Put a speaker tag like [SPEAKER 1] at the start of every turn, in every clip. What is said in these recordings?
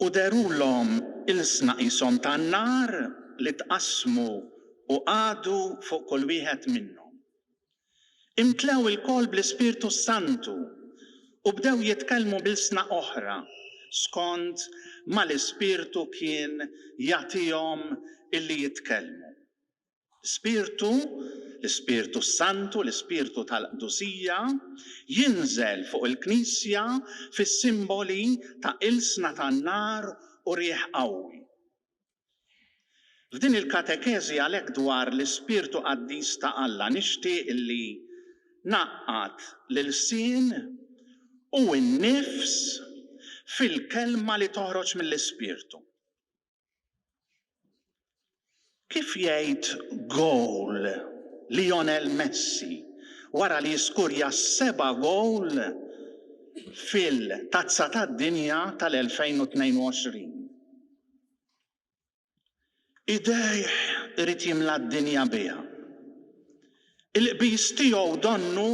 [SPEAKER 1] U dehrullhom ilsna qishom tan-nar li tqassmu u qagħdu fuq kull wieħed minnhom. Imtlew ilkoll bl-Ispirtu s-Santu u bdew jitkellmu b'ilsna oħra, skond ma l-Ispirtu kien jagħtihom illi jitkellmu. Spirtu, l-Ispirtu s-Santu, l-Ispirtu tal-qdusija, jinżel fuq il-Knisja fis-simboli ta' ilsna tan-nar u riħ qawwi. F'din il-katekeżi għalhekk dwar l-Ispirtu qaddis ta' Alla nixtieq li ngħaqqad l-ilsien u n-nifs fil-kelma li toħroġ mill-Ispirtu. Kif jgħid gowl Lionel Messi wara li skurja seba' gowl fil-Tazza tad-Dinja tal-2022? Idejh irid jimla d-dinja biha. Il-qbiż tiegħu donnu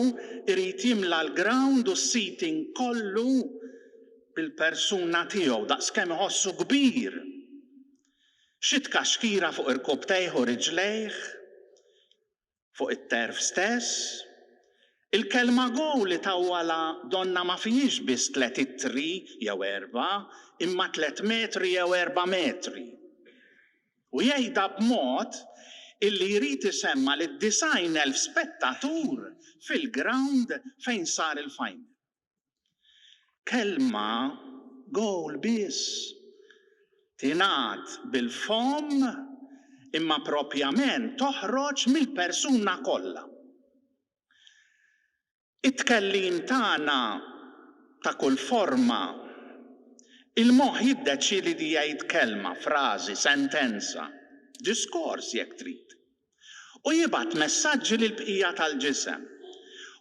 [SPEAKER 1] jrid jimla l-ground u s-seating kollu bil-persuna tiegħu, daqskemm iħossu kbir. Xi tkaxkira fuq irkupptejh u riġlejh? Fuq it-turf stess? Il-kelma goal itawwalha donna ma fihiex biss tliet ittri jew erbgħa, imma tliet metri jew erbgħa metri. u jgħidha b'mod illi jrid isemma' lid-disgħin elf spettatur fil-grawnd fejn sar il-final. Kelma, goal biss, tingħad bil-fomm imma propjament toħroġ mill-persuna kollha. It-tkellim tagħna ta' kull forma. Il-moħħ jiddeċiedi li jgħid kelma, frażi, sentenza, diskors jekk trid, u jibgħat messaġġi lill-bqija tal-ġisem.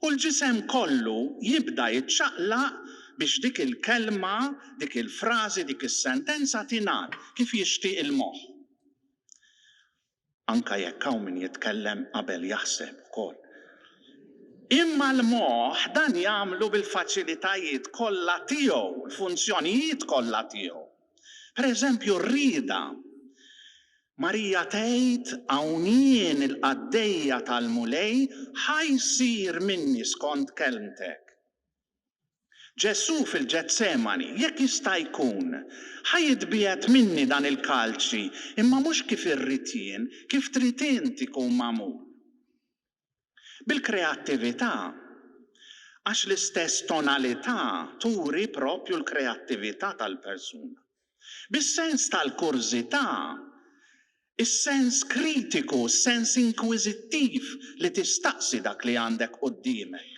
[SPEAKER 1] U l-ġisem kollu jibda jiċċaqlaq biex dik il-kelma, dik il-frażi, dik is-sentenza tingħad kif jixtieq il-moħħ. anke jekk hawn min jitkellem qabel jaħseb ukoll. Imma l-moħħ dan jagħmlu bil-faċilitajiet kollha tiegħu, l-funzjonijiet kollha tiegħu. Pereżempju r-rieda. Marija tgħid, Hawn jien il-qaddejja tal-Mulej, ħa jsir minni skont kelmtek. Ġesù fil-Ġetsemani, Jekk jista' jkun, ħa jitbiegħed minni dan il-kalċi, imma mhux kif irrid jien, kif trid int ikun magħmul. Bil-kreattività, għax l-istess tonalità turi proprju l-kreattività tal-persuna. Bis-sens tal-kurżità, is-sens kritiku, s-sens inkwiżittiv li tistaqsi dak li għandek quddiemek.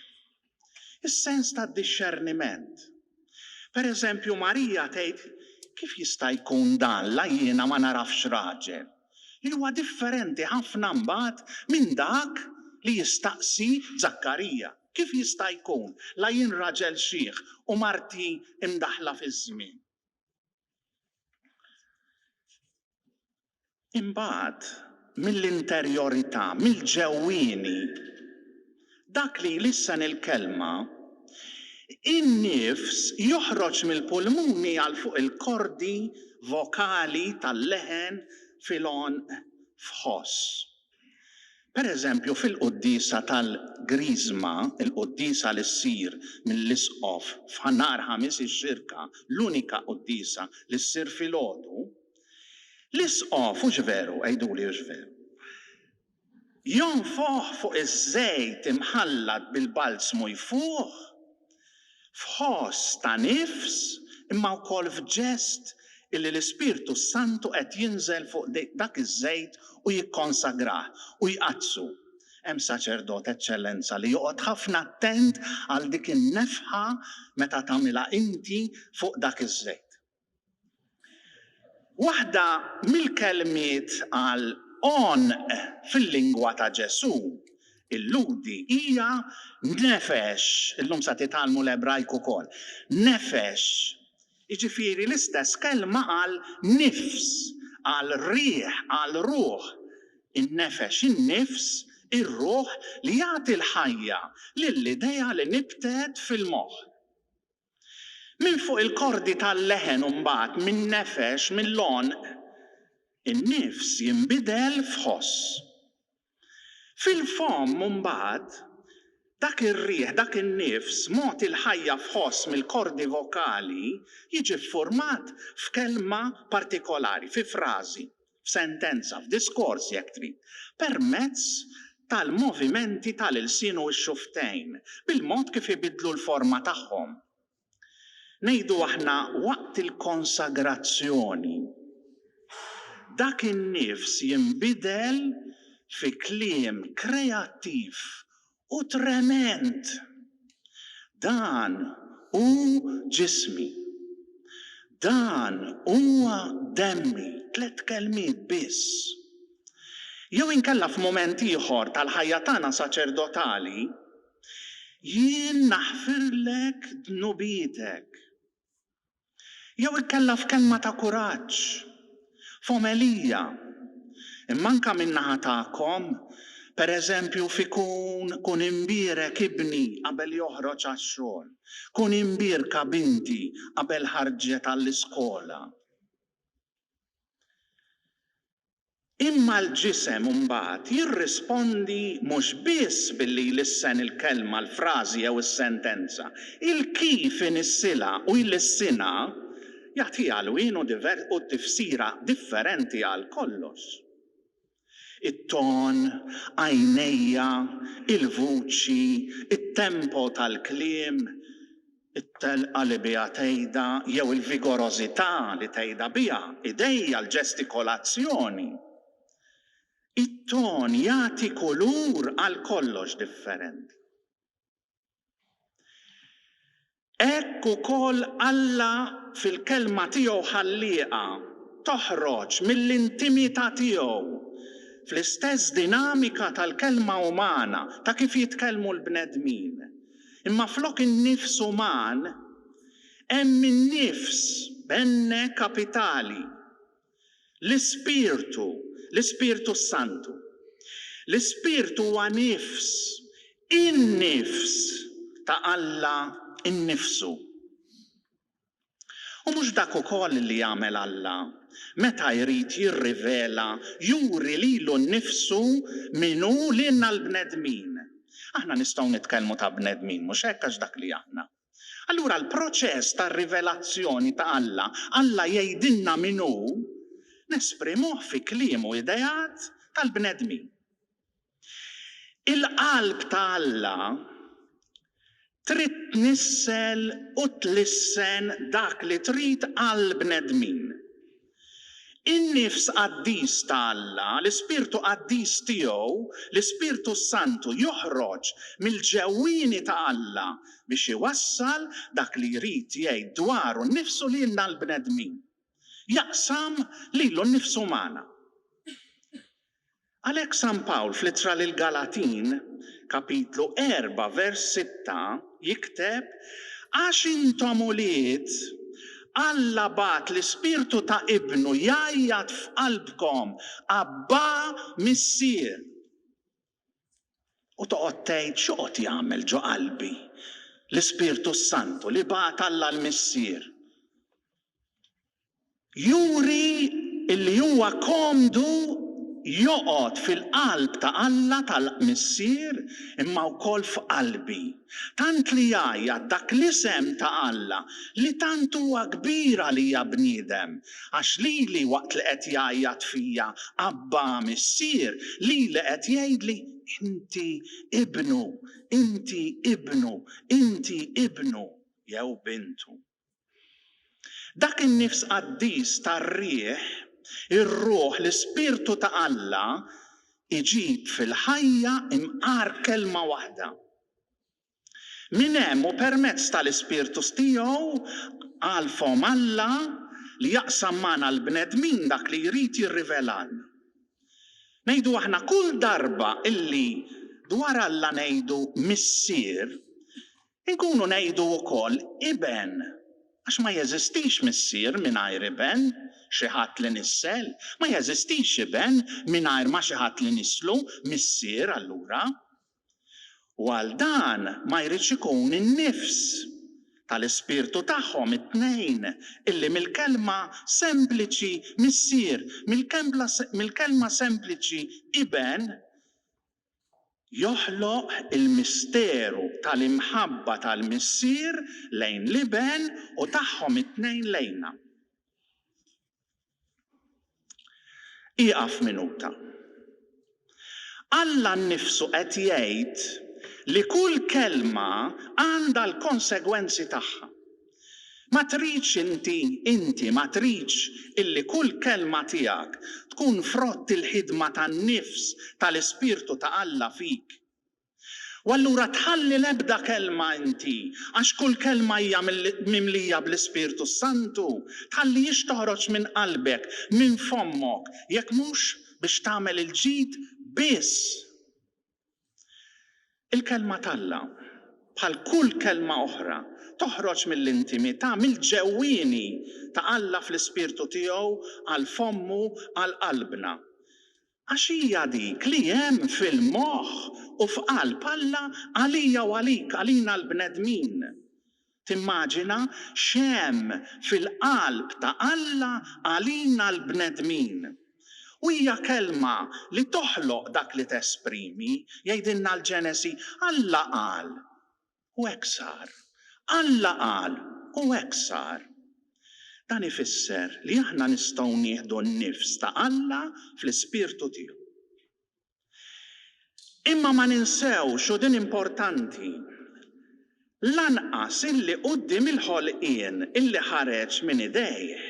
[SPEAKER 1] Is-sens tad-dixxerniment. Per eżempju, Marija tgħid, Kif jista' jkun dan la jiena ma nagħrafx raġel? li huwa differenti ħafna mbagħad minn dak li jistaqsi Żakkarija, Kif jista' jkun la jien raġel xiħ u marti mdaħħla fiż-żmien? Imbagħad mill-interjorità, mill-ġewwieni, dak li jlissen il-kelma, in-nifs joħroġ mill-pulmuni għal fuq il-kordi vokali tal-leħen fil-għonq f'ħoss. Pereżempju, fil-quddiesa tal-Griżma, il-quddiesa li ssir mill-Isqof f'Nhar Ħamis ix-Xirka, l-unika quddiesa li ssir filgħodu, l-Isqof, hux veru, għiduli hux veru, jonfoħ fuq iż-żejt imħallat bil-balzmu jfuħ f'ħoss ta' nifs imma wkoll f'ġest illi l-Ispirtu s-Santu qed jinżel fuq dak iż-żejt u jikkonsagrah u jqaddsu. Hemm saċerdot, Eċċellenza, li joqgħod ħafna attent għal dik in-nefħa meta tagħmilha inti fuq dak iż-żejt. Waħda mill-kelmiet għal għonq fil-lingwa ta' Ġesù, il-Lhudi, hija nefesh, illum sa titgħallmu l-Ebrajk ukoll, nefesh, jiġifieri l-istess kelma għal nifs, għal riħ, għal ruħ, in-nefesh, in-nifs, ir-ruħ li jagħti l-ħajja lill-idea li nibtet fil-moħħ. Minn fuq il-kordi tal-leħen u mbagħad min-nefex, mill-għonq, in-nifs jinbidel f'ħoss. Fil-fomm mbagħad, dak ir-riħ, dak in-nifs, mogħti l-ħajja f'ħoss mill-kordi vokali, jiġi ffurmat f'kelma partikolari, fi frażi, f'sentenza, f'diskors jekk trid, permezz tal-movimenti tal-ilsien u x-xufftejn, bil-mod kif ibiddlu l-forma tagħhom. Ngħidu aħna waqt il-konsagrazzjoni, dak in-nifs jinbidel fi kliem kreattiv u trement, Dan hu ġismi. Dan huwa demmi, tliet kelmiet biss. Jew inkella f'mument ieħor tal-ħajja tagħna saċerdotali, Jien naħfirlek dnubietek. jew inkella f'kelma ta' kuraġġ, f'omelija, imma anke min-naħa tagħkom, pereżempju fi Kun, kun imbierek ibni qabel joħroġ għax-xogħol, kun imbierka binti qabel ħarġet għall-iskola. Imma l-ġisem imbagħad jirrispondi mhux biss billi jlissen il-kelma, l-frażi jew is-sentenza. Il-kif inissilha u jlissinha jagħtiha lwien u tifsira differenti għal kollox. It-ton, għajnejja, il-vuċi, it-tempo tal-kliem, it-telqa li biha tgħidha jew il-vigorożità li tgħidha biha, idejja, l-ġestikolazzjoni. It-ton jagħti kulur għal kollox differenti. Hekk ukoll Alla fil-Kelma tiegħu ħallieqha toħroġ mill-intimità tiegħu fl-istess dinamika tal-kelma umana, ta' kif jitkellmu l-bnedmin. Imma flok in-nifs uman, hemm in-nifs, benne kapitali, l-ispirtu, l-Ispirtu s-Santu. L-ispirtu huwa nifs, in-nifs ta' Alla nnifsu. U mhux dak ukoll li jagħmel Alla, meta jrid jirrivela, juri lilu nnifsu min hu lilna l-bnedmin? Aħna nistgħu nitkellmu ta' bnedmin, mhux hekk, għax dak li aħna. Allura l-proċess tar-rivelazzjoni ta' Alla, Alla jgħidilna min hu, nesprimuh fi kliem u ideat tal-bnedmin. Il-qalb ta' Alla trid tnissel u tlissen dak li trid għall-bnedmin. In-nifs qaddis ta' Alla, l-ispirtu qaddis tiegħu, l-Ispirtu s-Santu, joħroġ mill-ġewwieni ta' Alla biex iwassal dak li jrid jgħid dwaru nnifsu lilna l-bnedmin. Jaqsam lilu nnifsu magħna. Għalhekk San Pawl fl-Ittra lill-Galatin, kapitlu erbgħa vers sitta, jikteb, Għax intom ulied, Alla bagħat l-Ispirtu ta' Ibnu jgħajjat f'qalbkom, Abbà, Missier! U toqgħod tgħid, X'joqgħod jagħmel ġo qalbi l-Ispirtu s-Santu li bagħat Alla l-Missier? juri li huwa komdu joqgħod fil-qalb ta' Alla tal-Missier imma wkoll f'qalbi, tant li jgħajjat dak l-isem ta' Alla li tant huwa kbir għalija bniedem, għax lili waqt li qed jgħajjat fija, Abba, Missier, lili qed jgħidli, Inti Ibnu, Inti Ibnu, Inti Ibnu jew Bintu. Dak in-nifs qaddis tar-riħ, ir-ruħ, l-ispirtu ta' Alla, iġib fil-ħajja imqar kelma waħda. Minn hemm u permezz tal-ispirtus tiegħu għalfhom Alla li jaqsam magħna l-bnedmin dak li jrid jirrivelalna. Ngħidu aħna kull darba illi dwar Alla ngħidu Missier, Inkunu ngħidu wkoll iben, għax ma jeżistix missier mingħajr iben, xi ħadd li nissel, ma jeżistix iben mingħajr ma xi ħadd li nisslu, missier allura. U għal dan ma jridx ikun in-nifs tal-ispirtu tagħhom it-tnejn illi mill-kelma sempliċi missier, mill-kelma sempliċi iben, joħloq il-misteru tal-imħabba tal-Missier lejn l-Iben u tagħhom it-tnejn lejna. Ieqaf minuta. Alla nnifsu qed jgħid li kull kelma għandha l-konsegwenzi tagħha. Ma tridx inti, inti ma tridx illi kull kelma tiegħek tkun frott il-ħidma tan-nifs tal-Ispirtu ta' Alla fik? U allura tħalli l-ebda kelma inti, għax kull kelma hija mimlija bl-Ispirtu s-Santu, tħallihiex toħroġ minn qalbek, minn fommok, jekk mhux biex tagħmel il-ġid biss. Il-Kelma t'Alla, bħal kull kelma oħra, toħroġ mill-intimità, mill-ġewwieni ta' Alla fl-ispirtu tiegħu għal fommu, għal qalbna. Għax hija dik li hemm fil-moħħ u f'qalb Alla għalija u għalik, għalina l-bnedmin. Timmaġina x'hemm fil-qalb ta' Alla għalina l-bnedmin. U hija kelma li toħloq dak li tesprimi. Jgħidilna l-Ġenesi, Alla qal, u hekk sar. Alla qal, u hekk sar. Dan ifisser li aħna nistgħu nieħdu n-nifs ta' Alla fl-ispirtu tiegħu. Imma ma ninsewx, u din importanti, lanqas illi quddiem il-ħolqien illi ħareġ minn idejh,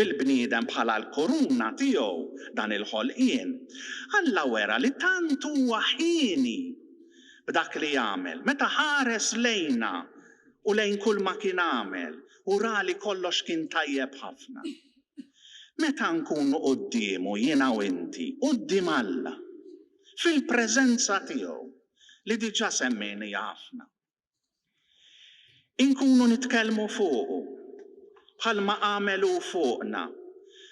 [SPEAKER 1] bil-bniedem bħala l-kuruna tiegħu, dan il-ħolqien, Alla wera li tant huwa hieni b'dak li għamel, meta ħares lejna u lejn kulma kien għamel u ra li kollox kien tajjeb ħafna. Meta nkunu quddiemu jiena u inti, quddiem Alla, fil-preżenza tiegħu, li diġà semmejnija ħafna, inkunu nitkellmu fuqu, bħalma għamel hu fuqna,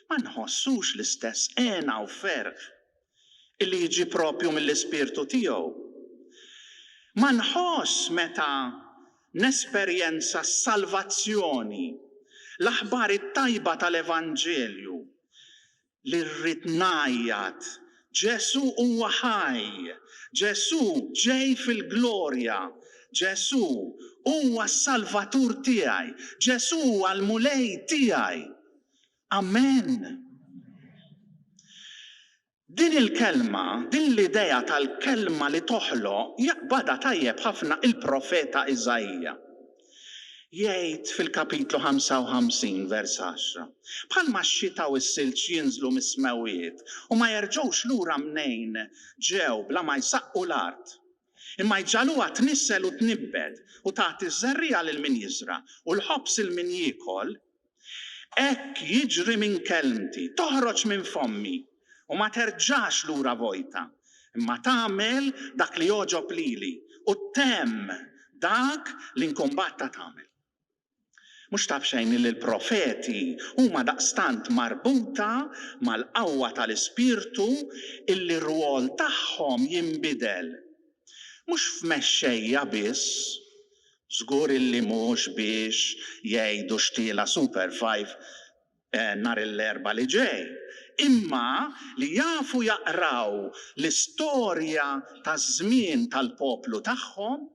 [SPEAKER 1] ma nħossux l-istess hena u ferħ illi jiġi proprju mill-ispirtu tiegħu. Ma nħoss meta nesperjenza s-salvazzjoni, l-aħbar it-tajba tal-Evanġelju, li rrid ngħajjat, Ġesù huwa ħaj, Ġesù ġej fil-glorja, Ġesù huwa s-Salvatur tiegħi, Ġesù huwa l-Mulej tiegħi. Amen! Din il-kelma, din l-idea tal-kelma li toħloq jaqbadha tajjeb ħafna il-profeta Iżaija. Jgħid fil-kapitlu 55, vers 10, Bħalma x-xita u s-silġ jinżlu mis-smewwiet u ma jerġgħux lura mnejn ġew bla ma jsaqqu l-art, imma jġagħluha tnissel u tnibbet, u tagħti ż-żerriegħa lil min jiżra', u l-ħobż 'il min jiekol, hekk jiġri minn kelmti, toħroġ minn fommi, u ma terġax lura vojta, imma tagħmel dak li jogħġob lili, u ttemm dak li nkumbatta tagħmel. Mhux ta' b'xejn illi l-profeti huma daqstant marbuta mal-qawwa tal-Ispirtu illi r-rwol tagħhom jinbidel. Mhux f'mexxejja biss, żgur illi mhux biex jgħidu xtiela Super Five nhar l-Erbgħa li ġej, imma li jafu jaqraw l-istorja taż-żmien tal-poplu tagħhom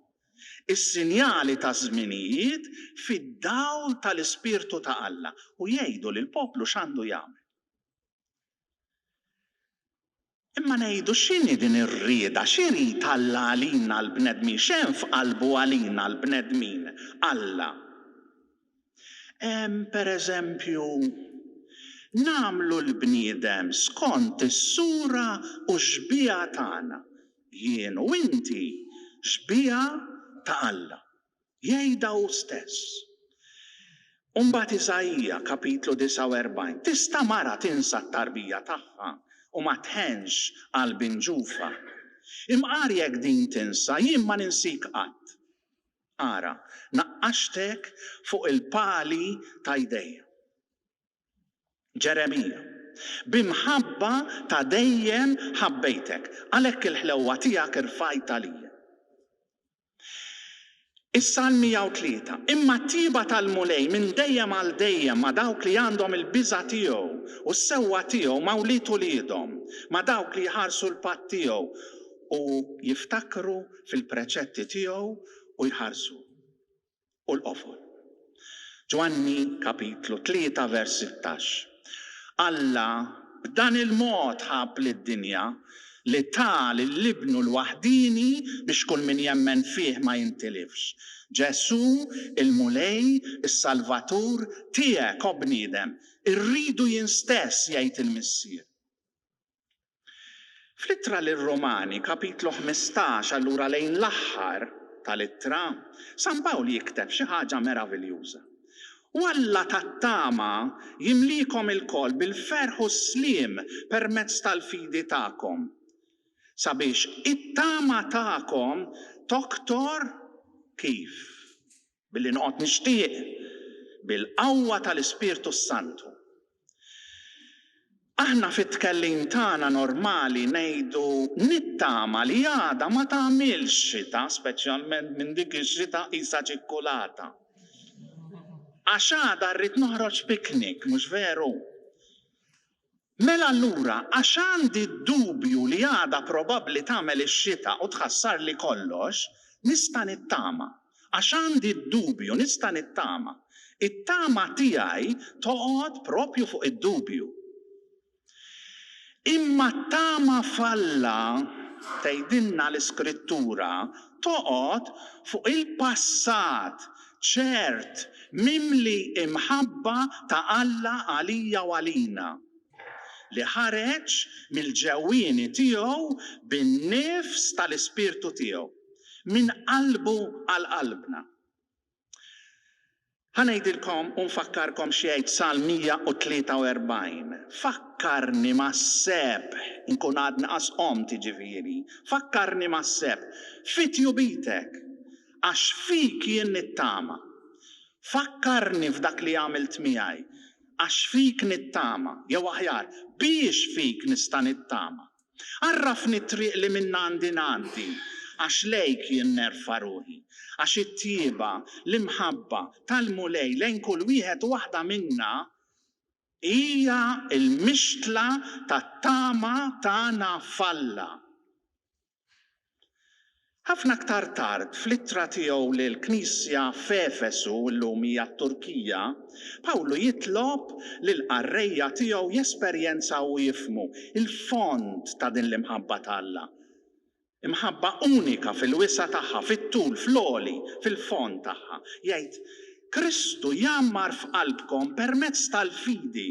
[SPEAKER 1] is-sinjali taż-żminijiet fid-dawl tal-Ispirtu ta' Alla u jgħidu lill-poplu x'għandu jagħmel. Imma ngħidu x'inhi din ir-rieda, x'irid Alla għalina l-bnedmin, x'hemm f'qalbu għalina l-bnedmin, Alla? Hemm, per eżempju, Nagħmlu l-bniedem skont is-sura u x-xbieha tagħna, jien u inti xbieha ta' Alla, jgħidha hu stess. U mbagħad Isaija, Kapitlu 49, Tista' mara tinsa t-tarbija tagħha u ma tħennx għal bin ġufha? Imqar jekk din tinsa, jien ma ninsik qatt. Ara, naqqaxtek fuq il-pali ta' jdejja. Ġeremija, b'imħabba ta' dejjem ħabbejtek, għalhekk il-ħlewwa tiegħek irfajt għalija. Is-Salm 103, Imma t-tjieba tal-Mulej minn dejjem għal dejjem ma' dawk li għandhom il-biża' tiegħu, u s-sewwa tiegħu ma' wlied uliedhom, ma' dawk li jħarsu l-patt tiegħu, u jiftakru fil-preċetti tiegħu u jħarsu. U l-qofol. Ġwanni kapitlu tlieta vers sittax, Alla b'dan il-mod ħabb lid-dinja li ta lil Ibnu l-waħdieni biex kull min jemmen fih ma jintilifx. Ġesù, il-Mulej, is-Salvatur, tiegħek, o bniedem, irridu jien stess, jgħid il-Missier. Fl-Ittra lir-Rumani, kapitlu ħmistax, allura lejn l-aħħar tal-Ittra, San Pawl jikteb xi ħaġa meraviljuża, U Alla tat-tama jimliekom ilkoll bil-ferħ u s-sliem permezz tal-fidi tagħkom, sabiex it-tama tagħkom toktor kif. Billi noqgħod nixtieq, bil-qawwa tal-Ispirtu s-Santu. Aħna fit-tkellim tagħna normali ngħidu nittama li għada ma tagħmilx xita, speċjalment minn dik ix-xita qisha ċikkulata. Għax għada rrid noħroġ picnic, mhux veru? Mela allura għax għandi d-dubju li għadha probabbli tagħmel ix-xita u tħassarli kollox, nista' nittama. Għax għandi d-dubju, nista' nittama. It-tama tiegħi toqgħod proprju fuq id-dubju. Imma t-tama f'Alla, tgħidilna l-Iskrittura, toqgħod fuq il-passat ċert, mimli imħabba ta' Alla għalija u għalina, li ħareġ mill-ġewwieni tiegħu bin-nifs tal-Ispirtu tiegħu, minn qalbu għal qalbna. Ħa ngħidilkom u nfakkarkom x'jgħid Salm 143, Fakkarni mas-sebħ, inkun għadni qas qomt, jiġifieri, fakkarni mas-sebħ, fi tjubitek, Għax fik jien nittama. Fakkarni f'dak li għamilt miegħi, Għax fik nittama, jew aħjar, Biex fik nista' nittama. Għarrafni t-triq li minnha għandi ngħaddi, Għax lejk jien nerfa' ruħi. Għax it-tjieba, l-imħabba, tal-Mulej lejn kull wieħed u waħda minna hija l-mixtla tat-tama tagħna f'Alla. Ħafna aktar tard, fl-ittra tiegħu lill-Knisja f'Efesu, illum hija t-Turkija, Pawlu jitlob lill-qarrejja tiegħu jesperjenzaw u jifhmu l-fond ta' din l-imħabba ta' Alla. Imħabba unika fil-wisa' tagħha, fit-tul, fl-għoli, fil-fond tagħha. Jgħid, Kristu jgħammar f'qalbkom permezz tal-fidi.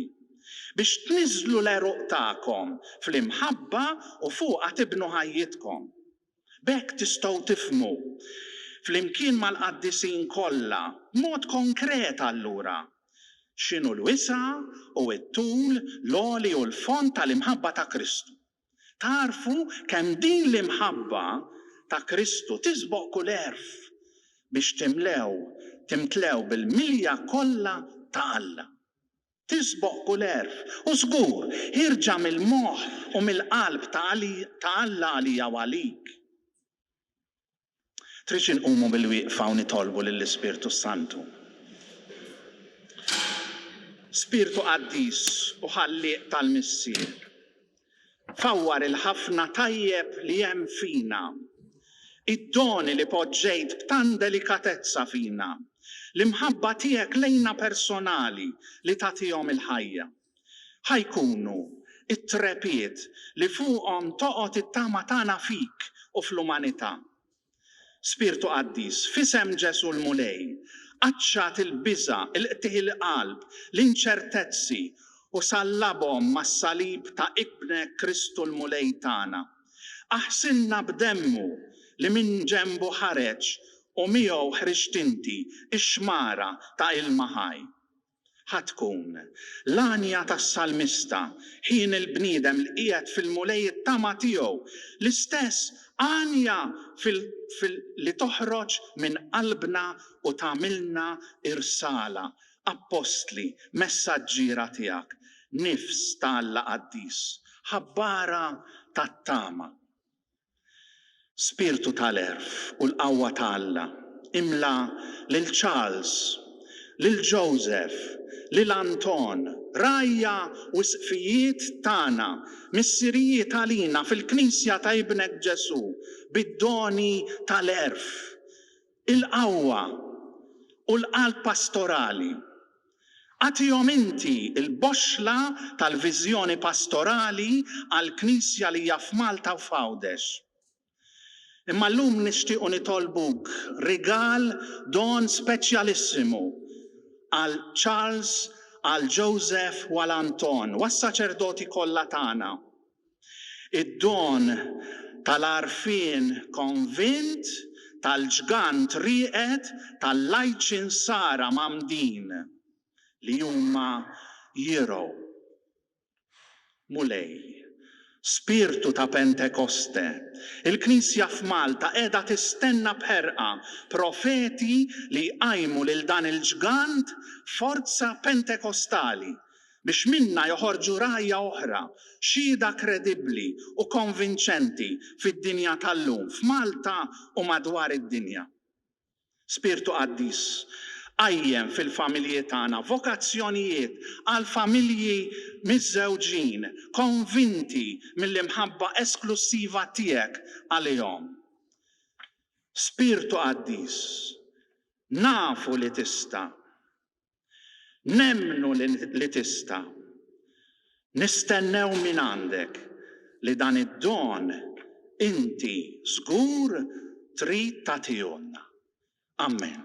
[SPEAKER 1] biex tniżżlu l-għeruq tagħkom fl-imħabba u fuqha tibnu ħajjitkom. B'hekk tistgħu tifhmu, flimkien mal-qaddisin kollha, b'mod konkret allura, x'inhu l-wisa' u t-tul, l-għoli u l-fond tal-imħabba ta' Kristu. Tagħrfu kemm din l-imħabba ta' Kristu tisboq kull għerf, biex timlew, timtlew bil-milja kollha ta' Alla. tisboq kull għerf, u żgur, ħierġa mill-moħħ u mill-qalb ta' Alla għalija u għalik. Tridx inqumu bil-wieqfa u nitolbu lill-Ispirtu s-Santu? Spirtu qaddis u ħallieq tal-Missier, Fawwar il-ħafna tajjeb li hemm fina, id-doni li poġġejt b'tant delikatezza fina, l-imħabba tiegħek lejna personali li tagħtihom il-ħajja. Ħa jkunu t-trepied li fuqhom toqgħod it-tama tagħna fik u fl-umanità. Spirtu Qaddis, f'isem Ġesù l-Mulej, qaċċat il-biża', il-qtigħ il-qalb, l-inċertezzi, u sallabhom mas-salib ta' Ibnek Kristu l-Mulej tagħna. Aħsilna b'demmu li minn ġenbu ħareġ u miegħu ħriġt inti, ix-xmara ta' ilma ħaj. Ħa tkun l-għanja tas-salmista, Ħin il-bniedem li qiegħed fil-Mulej it-tama tiegħu, l-istess għanja li toħroġ minn qalbna u tagħmilna irsala, appostli, messaġġiera tiegħek. Nifs ta' Alla qaddis, ħabbara tat-tama. Spirtu tal-għerf u l-qawwa ta' Alla, imla lil Charles, lil Joseph, lil Anton, rgħajja u isqfijiet tagħna, missirijiet għalina fil-Knisja ta' Ibnek Ġesù, bid-doni tal-għerf Il-qawwa u l-qalb pastorali. Agħtihom inti l-boxxla tal-viżjoni pastorali għall-Knisja li hija f'Malta u f'Għawdex. Imma llum nixtiequ nitolbuk rigal, don speċjalissimu għal Charles, għal Joseph u għal Anton u għas-saċerdoti kollha tagħna. Id-don tal-għarfien konvint, tal-ġgant rieqed, tal-lajċin sara mgħammdin li huma jirgħu. Mulej, Spirtu ta' Pentekoste, il-Knisja f'Malta qiegħda tistenna b'ħerqa profeti li jqajmu lil dan il-ġgant forza pentekostali biex minnha joħorġu rgħajja oħra, xhieda kredibbli u konvinċenti fid-dinja tal-lum, f'Malta u madwar id-dinja. Spirtu Qaddis, qajjem fil-familji tagħna vokazzjonijiet għal familji miżżewġin konvinti mill-imħabba esklussiva Tiegħek għalihom. Spirtu Qaddis, nafu li Tista'. Nemmnu li tista'. Nistennew mingħandek li dan id-don inti żgur trid tagħtihulna. Ammen.